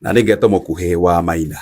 na nä ngeto må kuhä wa maina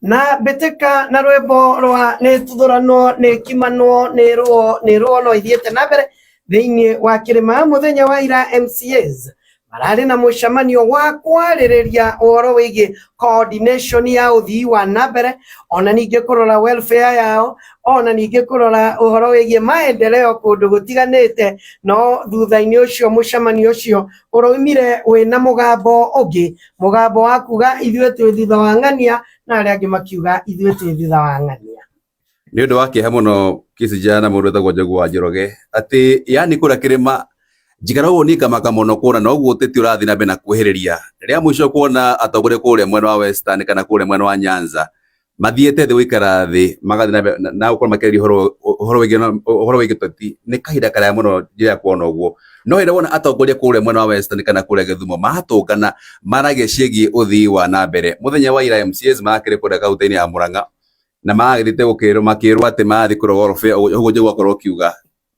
na mbĩtĩka na rwĩmbo rwa nĩ tuthũranwo nĩ kimanwo nĩ rũo nĩ rũo no ithiĩte na mbere thĩinĩ wa kĩrĩma mũthenya wa ira mcas mararĩ na mũcemanio wa kwarĩrĩria ũhoro wĩgiĩ coordination ya ũthii wa na mbere ona ningĩ kũrora welfare yao ona ningĩ kũrora ũhoro wĩgiĩ maendeleo kũndũ gũtiganĩte no thutha-inĩ ũcio mũcemanio ũcio Ũroimire wĩ na mũgambo ũngĩ, mũgambo wa kuga ithuĩ twĩ thutha wa ng'ania, na arĩa angĩ makiuga ithuĩ twĩ thutha wa ng'ania. Nĩ ũndũ wa kĩeha mũno Kisija na mũndũ wĩtagwo Njogu wa Njoroge, atĩ yani kũrĩa kĩrĩma njikara ũguo niĩ ngamaka mũno kuona noguo ũteti ũrathiĩ na mbere na kuhĩrĩria. Rĩa mũico kuona atongoria kũrĩa mwena wa Western kana kũrĩa mwena wa Nyanza mathiĩte thĩ gũikara thĩ magathiĩ na mbere na- na gũkorwo makĩaria ũhoro ũhoro wĩgiĩ na- ũhoro wĩgiĩ ũteti nĩ kahinda karaya mũno njĩra kuona ũguo no hĩndĩ wona atongoria kũrĩa mwena wa western kana kũrĩa gĩthumo matũngana maragia ciĩgiĩ ũthii wa na mbere mũthenya wa ira mcs marakĩrĩ kũrĩa kaunti-inĩ ya mũrang'a na maragĩthiĩte gũkĩrwo makĩrwo atĩ marathiĩ kũrogorobia ũguo njĩguo akorwo ũkiuga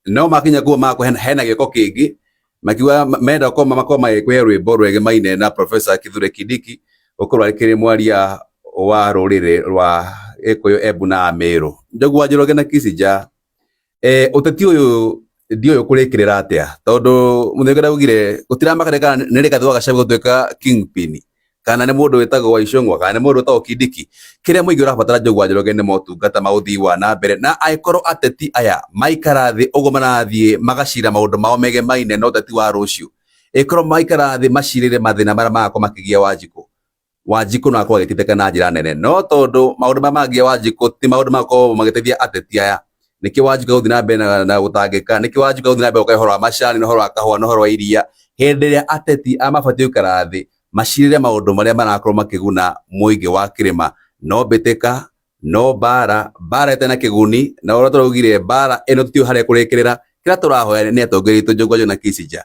No makinya kuo mako hena gĩko kĩngĩ makiuga menda gũkorwo makorwo magĩkũhe rwĩmbo rwegimaine na Professor Kithure Kindiki gũkorwo arĩ mwaria wa rũrĩrĩ rwa Gĩkũyũ, Embu na Amĩrũ. Njogu wa Njoroge na Kissinger, eh, ũteti ũyũ ndiũyũ kũrĩkĩrĩra atĩa tondũ Muthaiga ndaugire gũtiramakania kana nĩ rĩgathĩ wa Gachagua gũtuĩka kingpin kana nĩ mũndũ wĩtagwo Waicũng'wa kana nĩ mũndũ wĩtagwo Kindiki, kĩrĩa mũingĩ ũrabatara Njũgũa Njoroge nĩ motungata ma ũthii wa na mbere, na angĩkorwo ateti aya maikara thĩ ũguo marathiĩ magacira maũndũ mao megemaine na ũteti wa rũciũ, ĩkorwo maikara thĩ macirĩrĩre mathĩna marĩa marakorwo makĩgia Wanjikũ, Wanjikũ no akorwo agĩteithĩka na njĩra nene, no tondũ maũndũ marĩa maragia Wanjikũ ti maũndũ marakorwo magĩteithia ateti aya, niki wanjuka guthi na mbere na, na gutangika niki wanjuka guthi na mbere ukai horo wa macani na horo wa kahua na horo wa iria hindi ria ateti a mabatie gukara thi macirire maundu maria marakorwo makiguna muingi wa kirima no mbitika no mbara mbara ite na kiguni na uria turaugire mbara ino tutiu haria kurikirira kira turahoya ni atongoria itu njungwa na kisija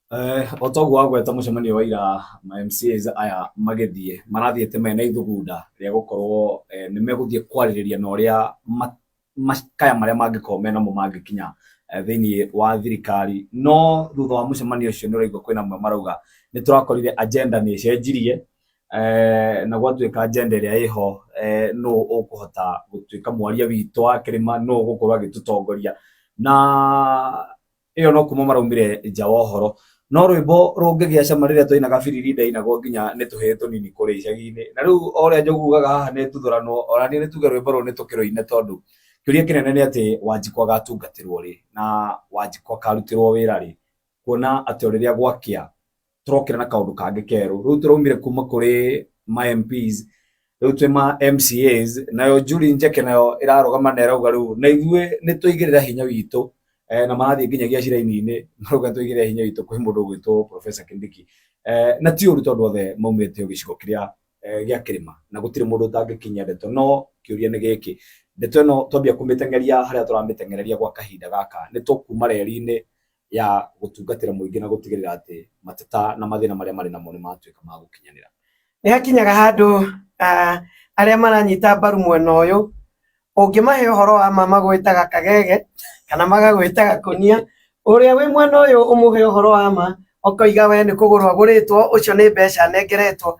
Eh, o toguo agweta mũcemanio wa ira ma MCAs aya magĩthiĩ marathiĩte mena ithugunda rĩa gũkorwo eh, nĩ megũthiĩ kwarĩrĩria na ũrĩa ma- makaya marĩa mangĩkorwo me namo mangĩkinya eh, thĩinĩ wa thirikari no thutha wa mũcemanio ũcio nĩ ũraigua kwĩna amwe marauga nĩ tũrakorire agenda nĩ ĩcenjirie eh, na gwatuĩka agenda ĩrĩa ĩho eh, nũ ũkũhota gũtuĩka mwaria witũ wa kĩrĩma nũ ũgũkorwo agĩtũtongoria na ĩyo no kuma maraumire nja wa ũhoro no rwĩmbo rũngĩgĩa cama rĩrĩa twainaga biriri ndainagwo nginya nĩ tũhĩĩ tũnini kũrĩa icagi-inĩ na rĩu o ũrĩa njogu ugaga haha nĩ tuthuranwo ona niĩ nĩ tuge rwĩmbo rũrũ nĩ tũkĩrũine tondũ kĩũria kĩnene nĩ atĩ wanjikũ agatungatĩrwo rĩ na wanjikũ akarutĩrwo wĩra rĩ kuona atĩ o rĩrĩa gwakĩa tũrokĩra na kaũndũ kangĩ kerũ rĩu tũraumire kuma kũrĩ ma MPs rĩu twĩ ma MCAs nayo Julie Njeke nayo ĩrarũgama na ĩrauga rĩu na ithuĩ nĩ tũigĩrĩra hinya witũ eh, na marathiĩ nginyagia ciraini-inĩ marauga tũigĩrĩra hinya witũ kwĩ mũndũ ũgwĩtwo Professor Kindiki eh, na ti ũru tondũ othe maumĩte o gĩcigo kĩrĩa eh, gĩa kĩrĩma na gũtirĩ mũndũ ũtangĩkinyia ndeto no kĩũria nĩ gĩkĩ ndeto ĩno twambia kũmĩteng'eria harĩa tũramĩteng'ereria gwa kahinda gaka nĩ tũkuma reri-inĩ ya gũtungatĩra mũingĩ na gũtigĩrĩra atĩ mateta na mathĩna marĩa marĩ namo nĩ matuĩka ma gũkinyanĩra. Nĩ hakinyaga handũ arĩa maranyita mbaru mwena ũyũ ũngĩmahe ũhoro wa ma magwĩtaga kagege kana magagwĩtaga kũnia, ũrĩa wĩ mwena ũyũ ũmũhe ũhoro wa ma ũkoiga we nĩ kũgũrwo agũrĩtwo ũcio nĩ mbeca anengeretwo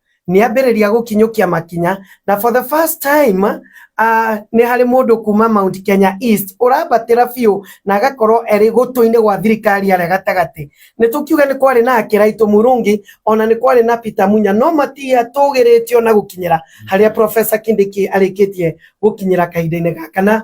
nĩ ambĩrĩria gũkinyũkia makinya na for the first time uh, nĩ harĩ mũndũ kuma Mount Kenya East ũrambatĩra biũ na agakorwo erĩ gũtũ-inĩ gwa thirikari arĩa gatagatĩ nĩ tũkiuga nĩ kwarĩ na Kĩraitũ Murungi ona nĩ kwarĩ na Peter Munya no matia tũgĩrĩtio na gũkinyĩra harĩa Professor Kindiki arĩkĩtie gũkinyĩra kahinda-inĩ gaka na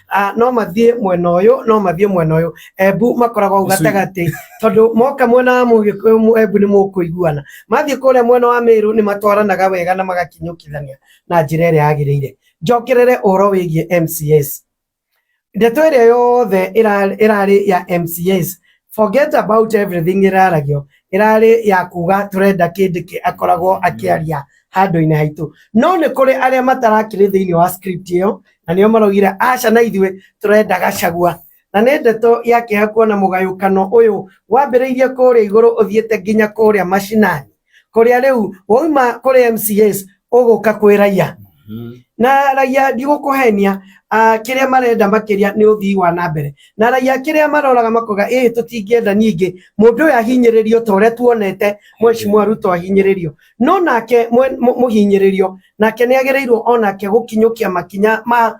Ah, no mathiĩ mwena ũyũ no mathiĩ mwena ũyũ embu makoragwo hau gatagatĩ tondũ moka mwena wa mũgĩkũyũ mu- embu nĩ mũkũiguana mathiĩ kũrĩa mwena wa mĩrũ nĩ matwaranaga wega na magakinyũkithania na njĩra ĩrĩa yagĩrĩire njokerere ũhoro wĩgiĩ mcs ndeto ĩrĩa yothe ĩra- ĩrarĩ ya mcs Forget about everything ĩraragio ĩrarĩ ya kuga tũrenda kĩndĩ kĩ akoragwo akĩaria handũ-inĩ haitũ no nĩ kũrĩ arĩa matarakĩrĩ thĩinĩ wa script ĩyo na nĩo maraugire aca na ithuĩ tũrenda gacagua na nĩ ndeto ya kĩeha kuona mũgayũkano ũyũ wambĩrĩirie kũrĩa igũrũ ũthiĩte nginya kũrĩa mashinani kuria riu wauma kuri mcs uguka kwi raia Mhm. na raia ndigũkũhenia ah, kĩrĩa marenda makĩria nĩ ũthii wa na mbere na raia kĩrĩa maroraga makoga ĩĩ tũtingĩenda ningĩ mũndũ ũyũ ahinyĩrĩrio ta ũrĩa tuonete mweshimua ruto ahinyĩrĩrio no nake mwe- mũ- mũhinyĩrĩrio nake nĩ agĩrĩirwo o nake gũkinyũkia makinya ma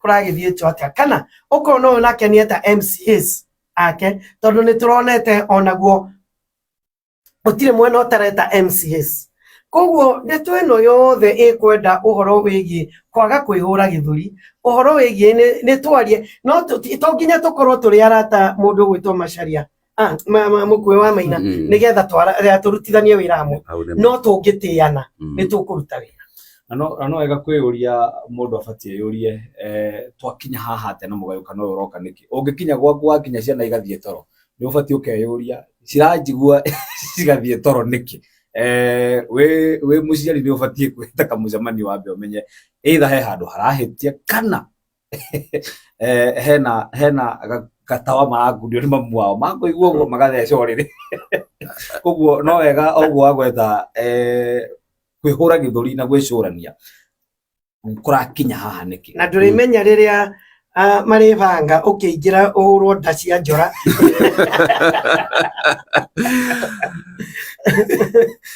kũragĩthiĩtwo atĩa kana ũkona ũyũ nake nĩ eta mcs ake tondũ nĩ tũronete onaguo gũtirĩ mwena ũtareta mcs koguo ndeto ĩno yothe ĩkwenda ũhoro wĩgiĩ kwaga kwĩhũra gĩthũri ũhoro wĩgiĩ nĩ- nĩ twarie no tũ- ti- to nginya tũkorwo tũrĩ arata mũndũ ũgwĩtwo macaria ah, ma- ma- mũkuĩ wa maina Mm. nĩ getha twara- eh, tũrutithanie wĩra hamwe Hau nĩ- no tũngĩtĩana Mm. nĩ tũkũruta wĩra na no na no wega kwĩyũria mũndũ abatiĩ yũrie eh, twakinya haha atĩa na mũgayũkano ũyũ ũroka nĩkĩ ũngĩkinya gwaku wakinya ciana igathiĩ toro nĩ ũbatiĩ ũkeyũria ciranjigua cigathiĩ toro nĩkĩ Eh, wĩ wĩ mũciari nĩ ũbatiĩ kwĩta kamũcemanio wambe ũmenye either he handũ harahĩtia kana eh, hena hena ga- gatawa marangunio nĩ mamu wao makũigua ũguo magatheca ũrĩrĩ koguo no wega ũguo agwetha eh, kwĩhũra gĩthũri na gwĩcũrania kũrakinya haha nĩkĩ na ndũrĩmenya rĩrĩa ah, marĩbanga ũkĩingĩra ũhũrwo nda cia njora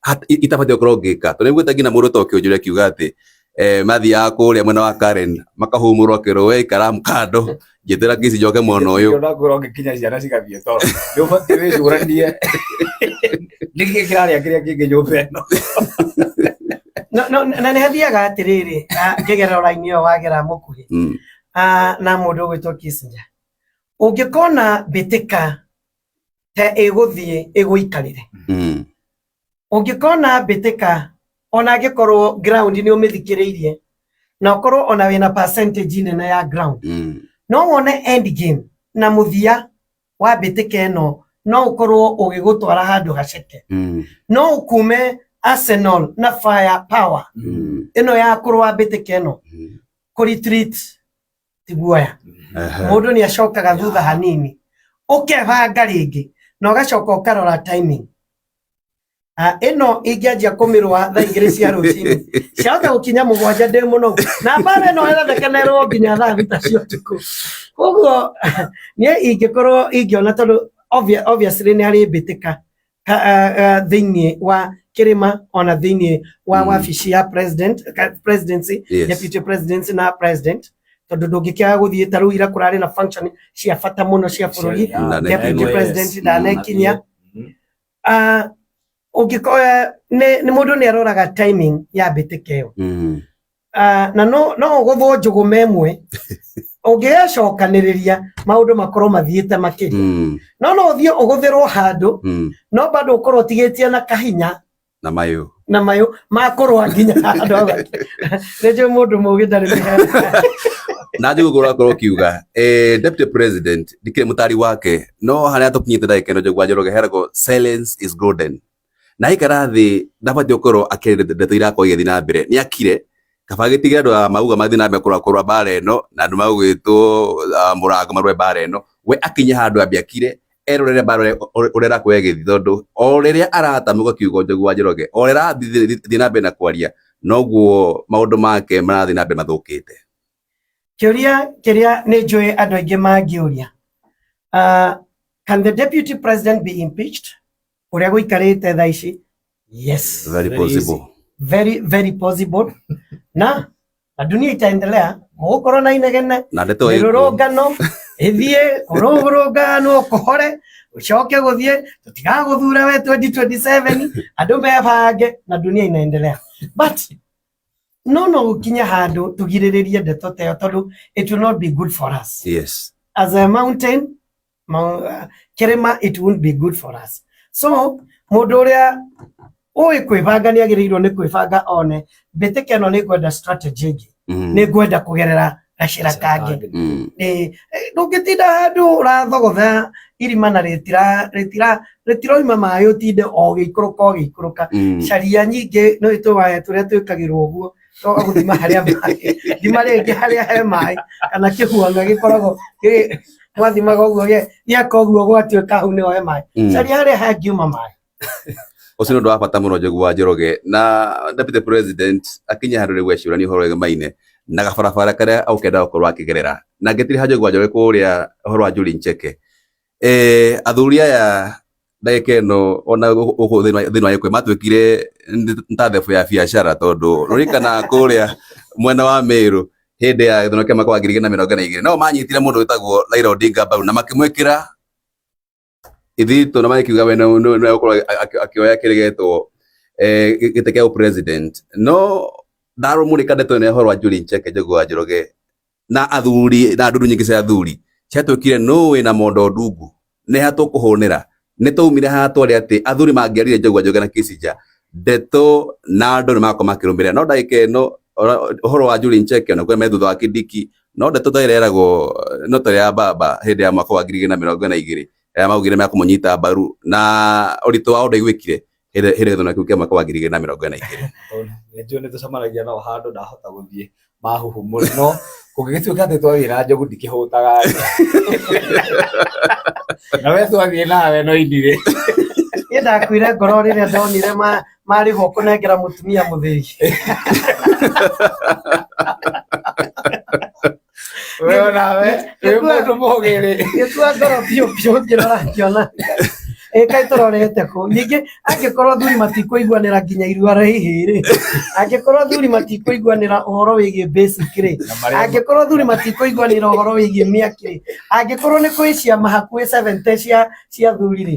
Hat- i- itabatiĩ gũkorwo ngĩka tondũ nĩguo nginya mũndũ toke ũnjũre akiuga atĩ eh, mathiaga kũrĩa mwena wa Karen makahumũrwo kĩrũ we ikara kando njĩtĩra ngĩci njoke mwena ũyũ Ndio nakwĩra ũngĩkinya ciana cigathiĩ toro nĩ ũbatiĩ wĩcũranie nĩkĩ kĩrarĩa kĩrĩa kĩngĩ nyũmba ĩno No- no- na nĩ hathiaga atĩrĩrĩ ah, ngĩgerera ũraini ũyũ wagera mũkuhĩ Mm, ah, na mũndũ ũgwĩtwo Kissinger ũngĩkona mbĩtĩka he ĩgũthiĩ ĩgũikarĩre Mm. ũngĩkona mbĩtĩka ona angĩkorwo ground nĩ ũmĩthikĩrĩirie na ũkorwo ona wĩna percentage nene ya ground Mm. no wone end game na mũthia wa mbĩtĩka ĩno no ũkorwo ũgĩgũtwara handũ gaceke Mm. no ũkume arsenal na fire power Mm. ĩno ya kũrũa mbĩtĩka ĩno Mm. kũretreat ti guoya Ehe. mundu ni acokaga thutha hanini ukebanga ringi na ugacoka ukarora timing Ah, ino ingianjia kumirwa thaa igiri cia rucini ciaga gukinya mugwanja ndi muno na mbara ino ĩrathekenerwo nginya thaa thita cia ũtukũ koguo niĩ ingĩkorwo ingiona tondũ obvi- obviously nĩ arĩ mbĩtĩka ha- ah, ah, thĩinĩ wa kĩrĩma ona thĩinĩ wa Mm. wabici ya president ka- presidency Yes. deputy presidency na president tondũ ndũngĩkĩaga gũthiĩ ta rĩu ira kũrarĩ na function cia bata mũno cia bũrũri Na deputy nekinyia. president ndanekinyia Ah, ũngĩkoya nĩ nĩ mũndũ nĩ aroraga timing ya mbĩtĩka ĩyo Mm. Ah, na no no ũgũthwo njũgũ me ĩmwe ũngĩgecokanĩrĩria maũndũ makorwo mathiĩte makĩria Mm, no no ũthiĩ ũgũthĩrwo handũ mm. no bado ũkorwo ũtigĩtie na kahinya na mayũ na mayũ makũrwa nginya andũ a gwake. nĩnjũĩ mũndũ mũgĩ ndarĩ mĩhera na njũgũ ũrakorwo ũkiuga eh, deputy president ndikĩrĩ mũtari wake no harĩa tũkinyĩte ndagĩka ĩno njũgũ wanjoroge heragwo silence is golden na aikara thĩ ndabatiĩ gũkorwo akĩrĩte ndeto irakorwo igĩthiĩ na mbere nĩ akire kaba agĩtigĩre andũ a mauga mathiĩ na mbere kũrũa kũrũa mbaara ĩno na andũ magũgĩtwo ah, mũrango marũe mbaara ĩno we akinye handũ ambe akire erorere mbaara ũrĩa- ũrĩa ũrĩa ĩrakorwo ĩgĩthiĩ tondũ o rĩrĩa aratamũka kiugo njogu wa njoroge o rĩrĩa arathiĩ na mbere na kwaria noguo maũndũ make marathiĩ na mbere mathũkĩte Kĩũria kĩrĩa nĩ njũĩ andũ aingĩ mangĩũria. Uh, can the deputy president be impeached? Ũrĩa gũikarĩte thaa ici. Yes. Very Very possible. easy. Very, very possible. Na, na dunia itaendelea. Mũgũkorwo na inegene. Na ndeto ĩkuo. Mĩrũrũngano. Ĩthiĩ kũrũrũngano kũhore. Ũcoke gũthiĩ. Tũtigagũthura we 2027. Andũ mebange na dunia inaendelea. But, no no gũkinya handũ tũgirĩrĩrie ndeto ta ĩyo tondũ it will not be good for us. Yes. as a mountain kĩrĩma it won't be good for us so mũndũ ũrĩa ũĩ kwĩbanga nĩ agĩrĩirwo nĩ kwĩbanga one mbĩtĩka ĩno nĩ ngwenda strategy ĩngĩ mm. nĩ ngwenda kũgerera gacĩra kangĩ mm. ndũngĩtinda handũ ũrathogotha irima na rĩtiroima maĩ ũtinde o gĩikũrũka o gĩikũrũka mm. caria nyingĩ nĩ tũwaya tũrĩa twĩkagĩrwo ũguo to gũthima harĩa maĩ thima rĩngĩ harĩa he maĩ kana kĩhuanga gĩkoragwo mwathimaga ũguo gĩ gĩaka ũguo gwatuĩka hau nĩho he maĩ mm. caria harĩa hangiuma maĩ ucio nä å ndå wa bata må no njogu wa njoroge na deputy president akinya handå rä u ecå rania å horo wä maine na gabarabara karä a å kenda gå korwo akä gerera na ngä tirä ha njogu wa njoroge kå rä a å horo wa njå ri nceke Eh, athuri aya ndagĩka ĩno ona gũkũ thĩinĩ wa gĩkwe matuĩkire nĩ ta thebũ ya biacara tondũ rũrikana kũrĩa mwena wa mĩrũ hĩndĩ ya gĩthurano kĩa mwaka wa ngiri igĩrĩ na mĩrongo na igĩrĩ nao manyitire mũndũ wĩtagwo Raila Odinga mbaru na makĩmwĩkĩra ithito na magĩkiuga we nĩwe nĩwe- nĩwe gũkorwo akĩ- akĩoya kĩrĩgetwo eh, gĩ- gĩtĩ kĩa president no ndarũmũrĩka ndeto ĩno ya ũhoro wa Julie Ncheke Njũgũa Njoroge na athuri na ndundu nyingĩ cia athuri ciatwĩkire nũĩ na mondo ndungu nĩ ha tũkũhũnĩra nĩ twaumire haha twarĩ atĩ athuri mangĩarire njogua njoge na kisinja ndeto na andũ nĩ magakorwo makĩrũmĩrĩra no ndagĩka ĩno ora- ũhoro wa Julie Ncheke na kũrĩa me thutha wa Kindiki no ndeto ta ĩrĩa yeragwo no ta ĩrĩa ya baba hĩndĩ ya mwaka wa ngiri igĩrĩ na mĩrongo ĩna na igĩrĩ ĩrĩa maugire mekũmũnyita mbaru na ũritũ wao ndaiguĩkire hĩndĩ hĩndĩ gĩthurano kĩu kĩa mwaka wa ngiri igĩrĩ na mĩrongo ĩna na igĩrĩ Tondũ nĩ njũĩ nĩ tũcemanagia nao handũ ndahota gũthiĩ mahuhu mũrĩ no kũngĩgĩtuĩka atĩ twawĩra njogu ndikĩhũtaga na we twathiĩ nawe no indirĩ Niĩ ndakuire ngoro rĩrĩa ndonire ma- marĩhwo kũnengera mũtumia mũthĩgi. we onawe wĩ mũndũ mũgĩ rĩ gĩkua ngoro biũ biũ ngĩrora ngĩona ĩ kaĩ tũrorete kũ ningĩ angĩkorwo athuri matikũiguanĩra nginya irua rĩa ihĩ rĩ angĩkorwo athuri matikũiguanĩra ũhoro wĩgiĩ basic rĩ Na marĩa- angĩkorwo athuri matikũiguanĩra ũhoro wĩgiĩ mĩaki rĩ angĩkorwo nĩ kwĩ ciama hakuhĩ 70 cia cia athuri rĩ